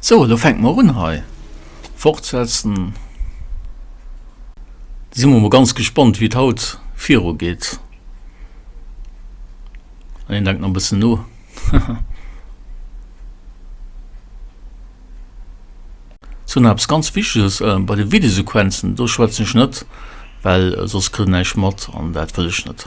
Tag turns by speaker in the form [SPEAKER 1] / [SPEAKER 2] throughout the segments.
[SPEAKER 1] So, elo fänke mer un hei. Fortsetzen. Da si mer mol ganz gespannt, wéi et haut viru geet. An een denkt nach e bëssen no. So, nach eppes ganz Wichteges, Bei de Videosequenzen, do schwätzen ech net, well soss kritt een näischt mat, an dat wëll ech net.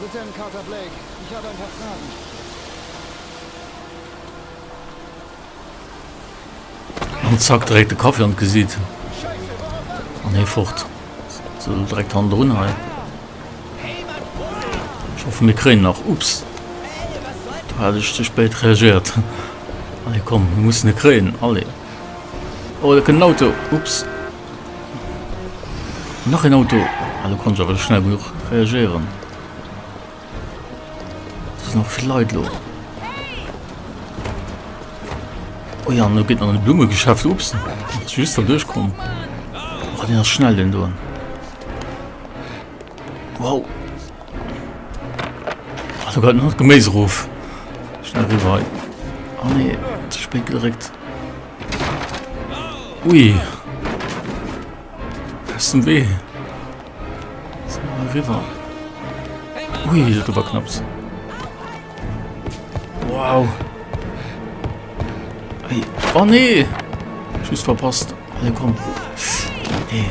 [SPEAKER 1] Lieutenant Carter Blake, ich habe ein paar Fragen. An zack direkt de Kaffee an d'Gesiit. An hee fort. So direkt handerun hei. Ich hoffe mir kréien nach. Ups. Da hat ech ze spéit reagiert. Allez komm, mir mussen e kréien. Allez. Oh, da kënnt en Auto. Ups. Nach een Auto! Ah, do konnt ech awer schnell genuch reagéieren. Da sinn och vill Leit lo. Oh ja, no geet an e Blummegeschäft. Ups, ass just der duerchkomm. Oh, den ass schnell, den doen. Wow! Ah, da gëtt nach d'Geméis erof. Schnell rüber hei. Oh nee, ze spéit geréckt. Ui. Aus dem Wee. So, rüber. Ui, das war knapps. Wow. Hey. Oh nee. Schuss verpasst. Hey, komm. Nee.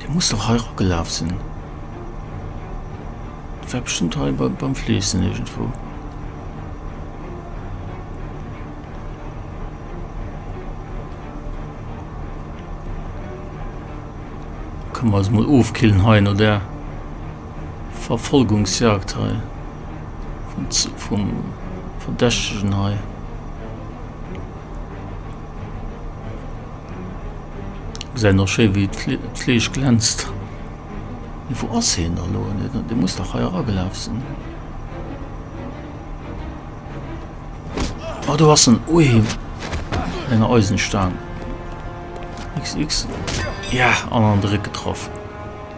[SPEAKER 1] Dee muss doch hei rockgelaf sinn. Dat war bestimmt hei beim, beim Fleessen irgendwo. Können wir uns mal ofkillen hei no der. Verfolgungsjagd hei vum Verdächtegen hei. Gesäit nach schéi wéi d'Fleesch glänzt. Mee wou ass hien da lo? Dee muss dach hei eragelaf sinn. Ah do ass en. Ui mat enger Eisenstaang. X X. Yah! An an de Réck getraff.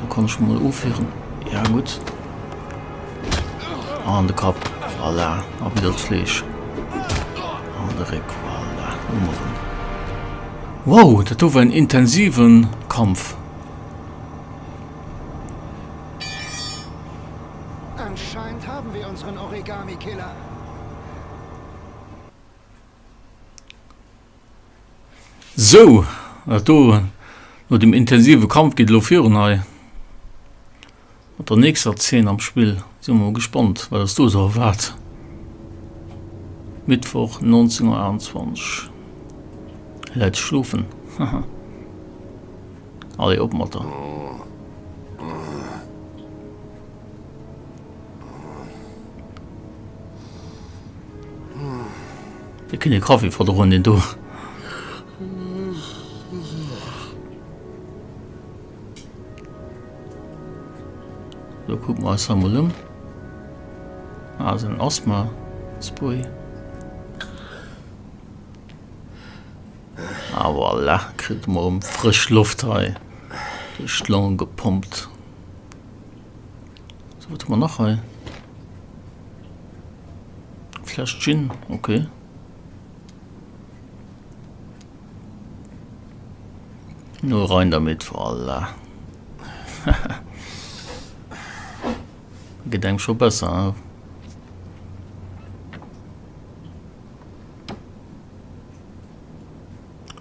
[SPEAKER 1] Da kann ech mol ofwieren. Ja gutt. An de Kapp. Voilà. A wieder d'Fleesch. An de Réck. Voilà. Hu mer en. Wow, dat do war en intensive Kampf. Anscheinend haben wir unseren Origami-Killer. Sou, wat do no dem intensive Kampf geet elo virun hei mat der nächster Zeen am Spill. Si mer mol gespannt, wat ons do sou erwaart. Mittwoch 19.28 Hie läit schlofen, haha. Allez, op mat der. Dir kënnt ee Kaffi verdroen, deen do. Sou, kucken mer eis hei mol ëm. Ah, sou en Asthma-Spray. Ah, voilà, kritt e mol erëm frësch Loft hei duerch d'Longe gepompt. So, wat hu mer nach hei? Fläsch Gin, okay. No rein damit, voilà. Gedenk scho besser, hein?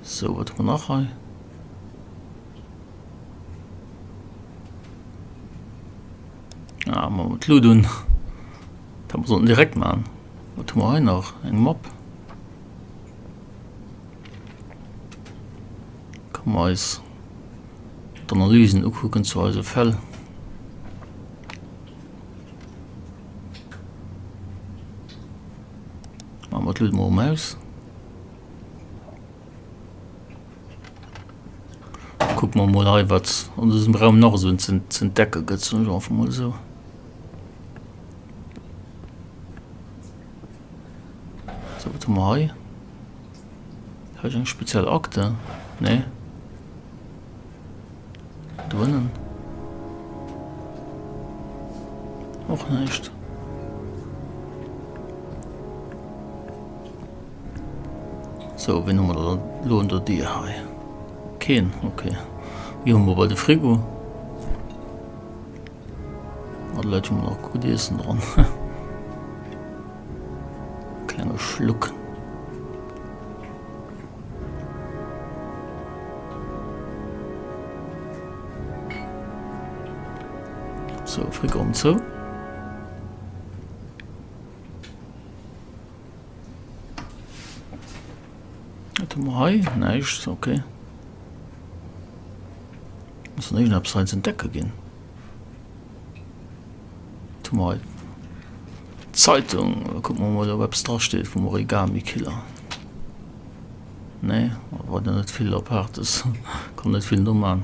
[SPEAKER 1] So, wat hu mer nach hei? Ah, machen wir Loot un. Dann sollten wir direkt machen. Was tun wir hier noch? Ein Mob. Kommen wir uns die Analysen angucken zu unseren Fällen. Machen wir Loot mal um aus. Kuck mer mol hei wat an diesem Raum nach so zu entdecke gëtt so einfach mal so. So wat mer hei eng speziell Akte nee. Doënnen och näischt. So, ween hu mer da lo un der Dier hei? Keen, ok. Wéi hu mer bei de Frigo? Mat Leit hu mer nach gutt Iessen dran. Klenge Schluck. So, Frequenz zou. Wat hu mer hei? Näischt, okay. Muss en éischen eppes hei entdecke ginn. Mei Zeitung kucken mer mol op eppes dra steet vum Origami Killer. Nee et war der net vill Apaartes, konnt net vill no man.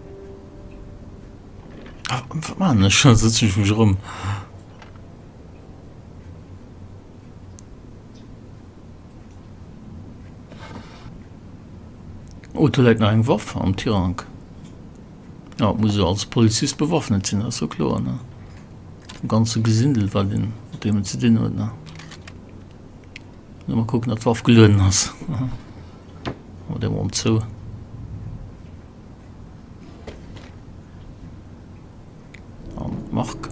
[SPEAKER 1] Ah, wat man ech? Da sëtzen ech mech erëm. Oh, do läit nach eng Waff am Tirank. Ja, muss jo als Polizist bewaffnet sinn, ass jo kloer, ne? Dem ganze Gesindel, wat een mat deemem ze dinn huet, ne? Muss mer kucken, datt d'Waff gelueden ass. Mat engem Arm zou. An Marc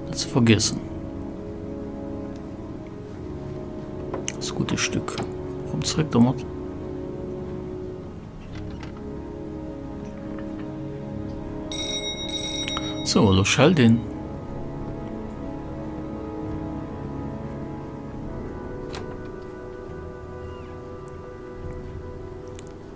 [SPEAKER 1] net ze vergiessen. Das gute Stück. Komm zréck domat. So, lo schellt een.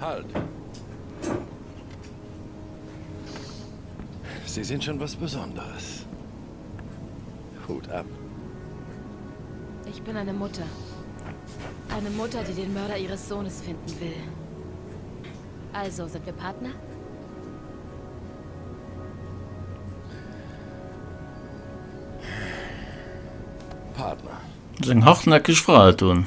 [SPEAKER 1] Halt! Sie sind schon was Besonderes. Hut ab. Ich bin eine Mutter. Eine Mutter, die den Mörder ihres Sohnes finden will. Also, sind wir Partner? Partner. Seng hartnäckeg Fra hätt un.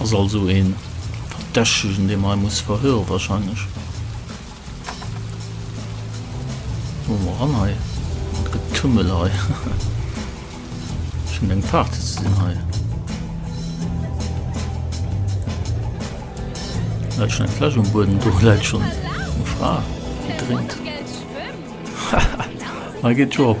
[SPEAKER 1] Ass also e Verdächtegen, dee mer hei muss verhöre wahrscheinlech. Wo mer ran hei? Wat Getummel hei. Schon eng Party ze sinn hei. Läit schon eng Fläsch um Bueden, do läit schon eng Fra, déi drénkt. Hei geet jo op.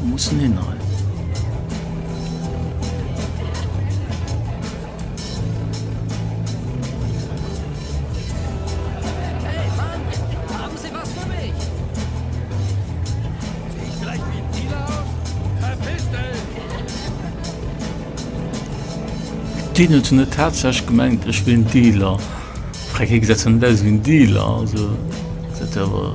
[SPEAKER 1] Wou muss en hin hei? Déi net hun net tatsächlich gemengt ech wien Dealer. Frag hie gesäit zwar net aus wéi en Dealer also dat awer.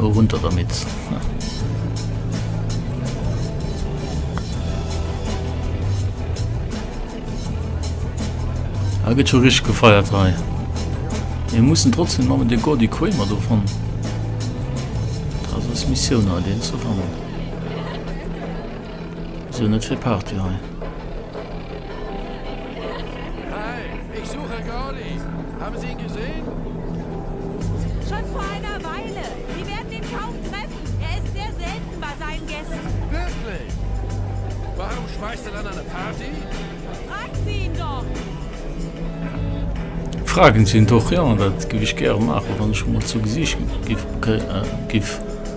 [SPEAKER 1] Oh, hun der mit. Ah, geht schon richtig gefeiert rein. Wir müssen trotzdem mal mit der Gordy Queen mal so von. Das ist Mission, den zu fangen. Sou net fir Party hei. Hey, ich suche Gauli. Haben Sie ihn gesehen? Schon vor einer Weile. Sie werden ihn kaum treffen. Er ist sehr selten bei seinen Gästen. Wirklich? Warum schmeißt er dann eine Party? Fragen Sie ihn doch. Fragen Sie ihn doch, ja, dat giff ech gäre maachen, wann ech emol zu Gesicht giff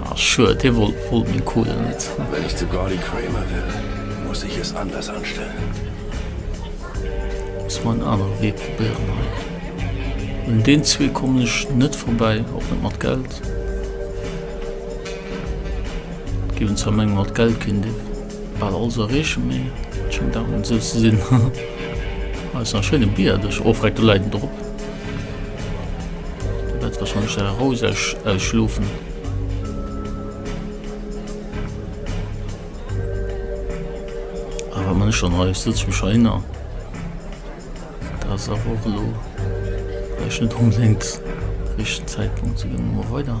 [SPEAKER 1] Ah, schued, hie wollt wollt meng Kohle net. Wenn ich zu Gordy Kramer will, muss ich es anders anstellen. Muss mer en anere Wee probéieren hei. Un deen zwee kommen ech net vorbäi, och net mat Geld. Géiwen zwar mengen, mat Geld kéint ee bal alles erreechen, mee et schéngt awer net esou ze sinn. Ah, ass nach e schéine Bierdeg. Oh, freck, do läit en drop. Dat war schon se roseg äh, schlofen. man schon he sitzt mich erinnern das auch lo rechnet um links richtigen zeitpunkt zu dem weiter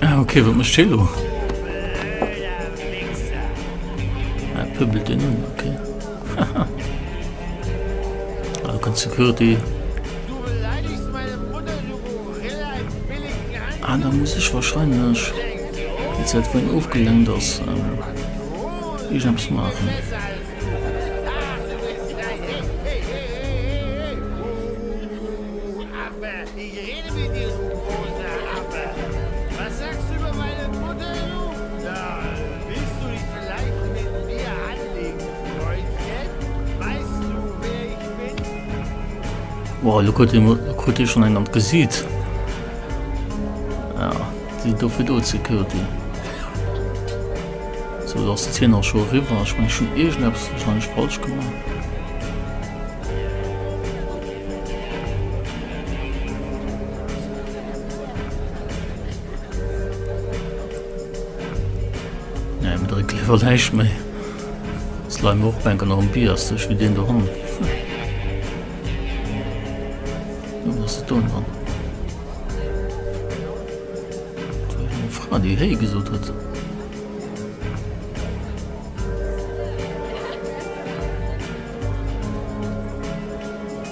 [SPEAKER 1] Ah okay, wat mécht hie lo? Ah, pöbelt en un, okay. Haha. Ah, ganz Security. Ah, da muss ech wahrscheinlech, wéi seit wohin ofgelenkt ass, ähm, irgendeppes maachen. Wow, lo krut een, krut ee schonn een an d'Gesiit. Ja, déi sinn do fir do ze Curtin. Sou, lo ass de Tenor scho eriwwer. Ech meng, ech hunn iergendeppes warscheinlech falsch gemaach. Nee, mir drécke léiwer näischt méi. Ass leien mer och bänken an biasteg wéi deen do hannen. Nun ass et don dran. Fra déi héi gesot huet.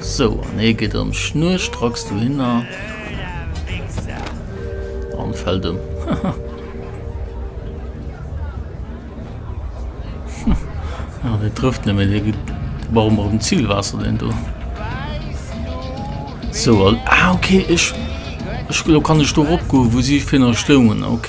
[SPEAKER 1] Sou, an hie geet ëm, Schnur stracks du hinner an fält ëm. Haha. Hie trëfft net méi, hie geet bal mat dem Zielwaasser deen do. Sou, an, ah ok, ech, ech, elo kann ech do eropgoen wou si virun stoungen, ok.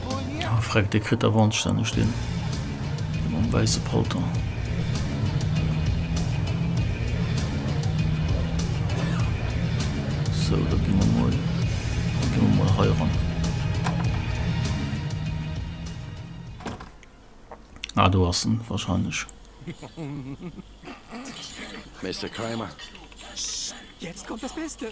[SPEAKER 1] Oh freck, dee kritt der wandstänneg deen mam wäisse Palton. Sou, da gi mer mol, da gi mer mol hei eran. Ah, do ass en wahrscheinlech. Mister Kramer? Psst, jetzt kommt das Beste!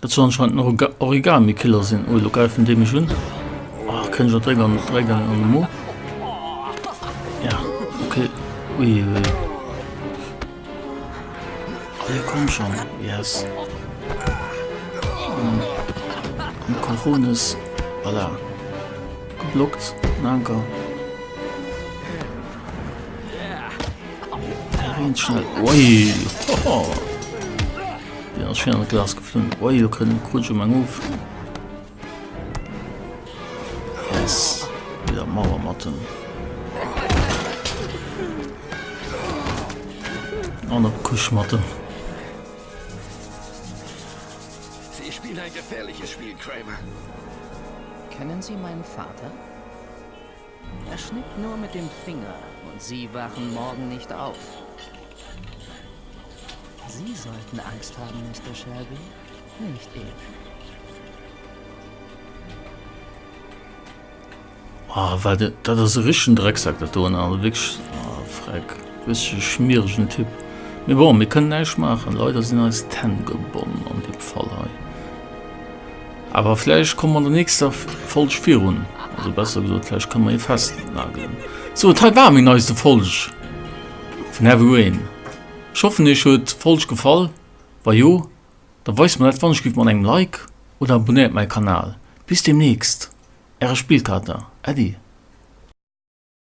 [SPEAKER 1] Dat soll anscheinend en Origami-Killer sinn. Oh, elo gräifen déi mech un. Oh, kréien ech och dréck an, dréck an, an de Mo. Ja, okay. Ui, ui, ui. Oh, jo, komm schon. Yes. Um, um Kochonis. Voilà. Geblockt. Danke. Ganz schnell. Ui. Hoho. Deen ass schéin an d'Glas geflunn. Oi, lo krut ech um eng of. Yes. Wéi der Mauer matten. An op d'Kusch matten. Sie spielen ein gefährliches Spiel, Kramer. Kennen Sie meinen Vater? Er schnippt nur mit dem Finger und sie wachen morgen nicht auf. Sie sollten Angst haben, Mister Shelby, nicht ich. Ah, war dat, dat ass e richtigen Drecksack, dat do, also wirklich, ah, Freck, richtige schmierigen Typ. Mais bon, mir können näischt maachen, leider sinn eis d'Hänn gebonn an dem Fall hei. Awer vläicht komme mer an der nächster Folg virun. Also besser gesot, vläicht kënne mer ee festnagelen. Sou, et hei war meng neiste Folg vun Heavy Rain. Ech hoffen iech huet d'Folg gefall. Wa jo, da weist mer dat wannech giff mat engem Like oder abonéiert mäi Kanal. Bis deemnächst, äre Spillkater Äddi.